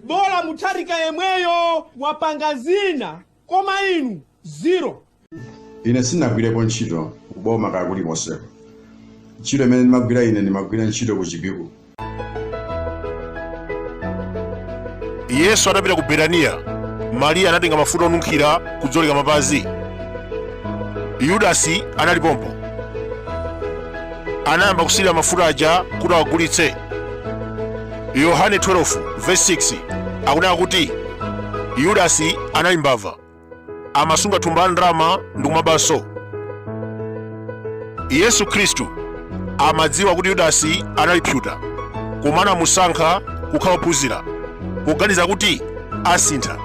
bola mutharika yemweyo wapanga zina koma inu zero ine sinagwirepo ntchito kuboma kaya kulikonseko ntchito imene ndimagwira ine ndimagwira ntchito ku chipiku yesu atapita ku betaniya mariya anatenga mafuta onunkhira kudzoleka mapazi yudasi anali pompo anayamba kusirira mafuta aja kuti awagulitse Yohane 12 verse 6 akunena kuti Yudasi anali mbava, amasunga thumba la ndalama ndi kumabanso. Yesu Khristu amadziwa kuti Yudasi anali pseuta, koma anamusankha kukhala wophunzira poganiza kuti asintha.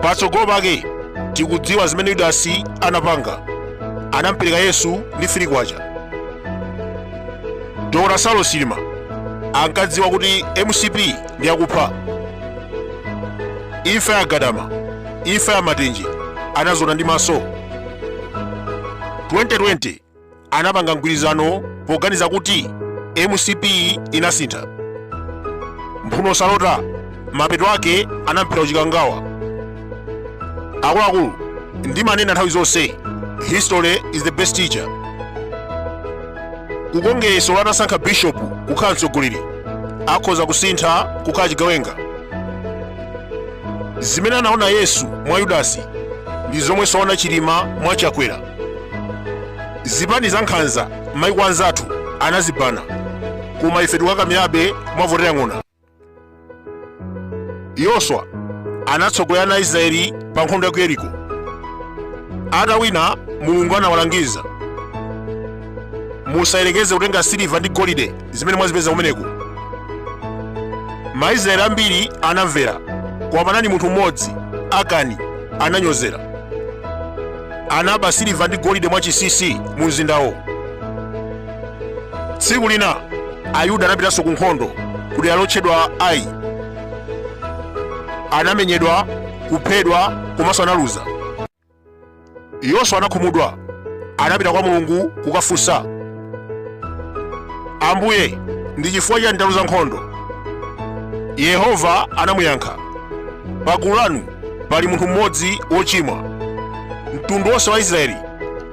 Patsogolo pake tikudziwa zimene Yudasi anapanga, anampereka Yesu ndi firi kwacha. dr saulos chilima ankadziwa kuti mcp ndi akupha imfa ya gadama imfa ya matenje anaziona ndi maso 2020 anapanga mgwirizano poganiza kuti mcp inasintha mphuno salota mapeto ake anamphera ku chikangawa akuluakulu ndimanena nthawi zonse history is the best teacher ku kongeresi atasankha bishop kukhala mtsogoleri akhoza kusintha kukhala chigawenga zimene anaona yesu mwa yudasi ndi zomwe anaona chilima mwa chakwera zipani za nkhanza maiko anzathu anazibana koma ife tikukakamirabe mwavotera ng'ona yoswa anatsogolera ana israeli pa nkhondo ya ku yeriko atawina mulungu anawalangiza musayerekeze kutenga siliva ndi golide zimene mwazipeza kumeneko maisraeli ambiri anamvera koma panali munthu mmodzi akani ananyozera anaba siliva ndi golide mwachisisi mu mzindawo tsiku lina ayuda anapitanso ku nkhondo ku dera lotchedwa ai anamenyedwa kuphedwa komanso analuza yoswa anakhumudwa anapita kwa mulungu kukafunsa ambuye ndi chifukwa chani ndaluza nkhondo yehova anamuyankha pagulu lanu pali munthu mmodzi wochimwa mtundu wonse wa israeli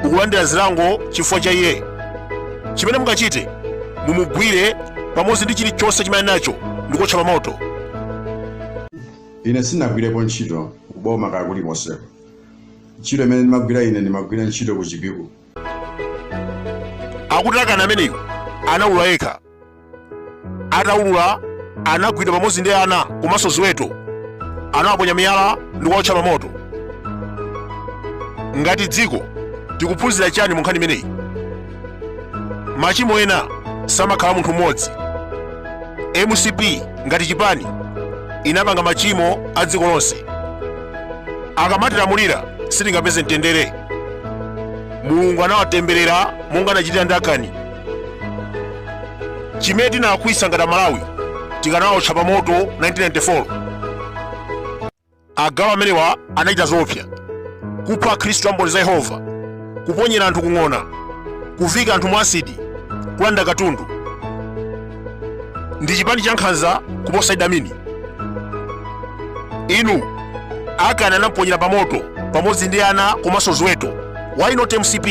ukulandira zilango chifukwa cha iye chimene mungachite mumugwire pamodzi ndi chilichonse chimene ali nacho ndi kuotcha pa moto ine sinagwirepo ntchito kuboma kaya kulikonseko ntchito imene ndimagwira ine ndimagwira ntchito ku chipiku akuti akani ameneyu anaulula yekha ataulula anagwidwa pamodzi ndi ana komanso ziweto anawaponya miyala ndi kuwaotcha pamoto ngati dziko tikuphunzira chani mu nkhani imeneyi machimo ena samakhala munthu mmodzi mcp ngati chipani inapanga machimo a dziko lonse akamatilamulira sitingapeze mtendere mulungu anawatemberera monga anachitira ndi akani chimene tinalakwitsa ngati amalawi tikanaotcha pa moto 1994 agalu amenewa anachita zoopsa kupha akhristu amboni za yehova kuponyera anthu kung'ona kuvika anthu mu asidi kulanda katundu ndi chipani cha nkhanza kuposa idi amini inu akani anamuponyera pa moto pamodzi ndi ana komanso ziweto why not mcp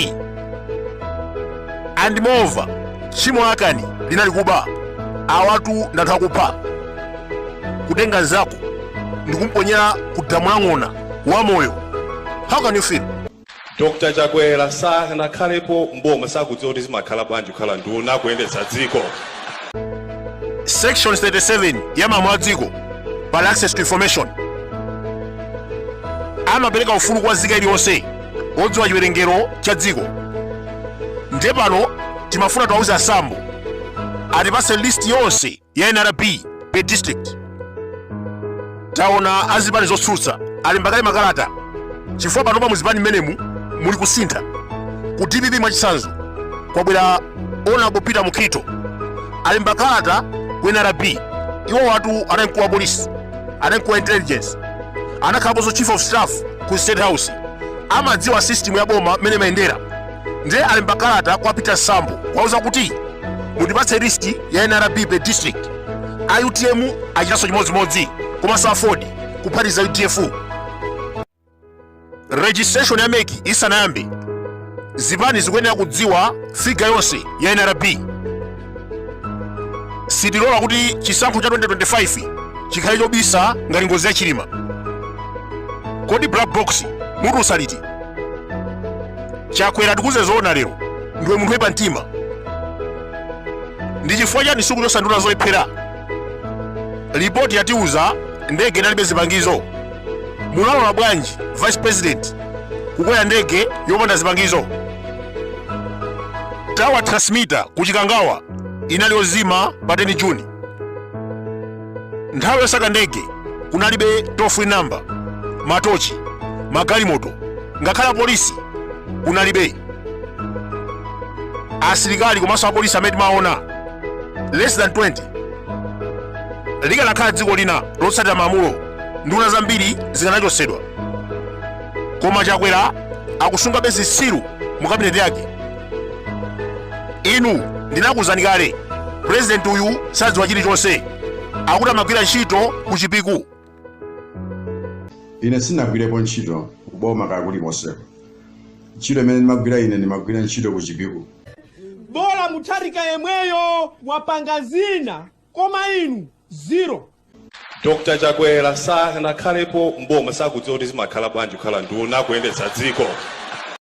and moreover tchimo la akani linali kuba awatu ndi anthu akupha kutenga nzako ndikumponyera ku damu la ng'ona wamoyo how can you feel dr chakwera sanakhalepo mboma sakudziwa kuti zimakhala bwanji kukhala nduna kuyendetsa dziko section 37 ya malamulo a dziko pali access to information amapereka ufulu kwa nzika iliyonse odziwa chiwerengero cha dziko ndiye pano timafuna tiwauze a sambo atipase list yonse ya nrb per district taona azipani zotsutsa alemba kale makalata chifukwa panopa muzipani mmenemu muli kusintha ku dpp mwachitsanzo kwabwera honourable peter mukhito alemba kalata ku nrb iwowatu anali mkulu wa polisi anali mkulu wa intelligence anakhalaponso chief of staff ku state house amadziwa system ya boma mmene imayendera ndiye alemba kalata kwa peter sambo kuwauza kuti mundipatse list ya nrb per district a utm achitanso chimodzimodzi komanso aford kuphatiza udf registration ya mec isanayambe zipani zikuyenera kudziwa figure yonse ya nrb sitilola kuti chisankho cha 2025 chikhale chobisa ngati ngozi ya chilima kodi black box mutiuza liti chakwera tikuuze zoona lero ndiwe munthu woipa mtima ndi chifukwa chani sukuchotsa nduna zolephera lipoti yatiuza ndege inalibe zipangizo munalola bwanji vice president kukwera ndege yopanda zipangizo tower transmitter ku chikangawa inali yozima pa 10 juni nthawi yosaka ndege kunalibe toll free number matochi magalimoto ngakhale polisi kunalibe asilikali komanso apolisi amene timaona less than 20 likanakhala dziko lina lotsatira malamulo nduna zambiri zikanachotsedwa koma chakwera akusungabe zitsiru mu kabineti yake inu ndinakuuzani kale purezidenti uyu sadziwa chilichonse akuti amagwira ntchito ku chipiku ine sindinagwirepo ntchito kuboma kwa kulikonseko ntchito imene ndimagwira ine ndimagwira ntchito ku chipiku bola mutharika yemweyo wapanga zina koma inu zero dr chakwera sanakhalepo mboma sakudziwa kuti zimakhala bwanji kukhala nduna kuyendetsa dziko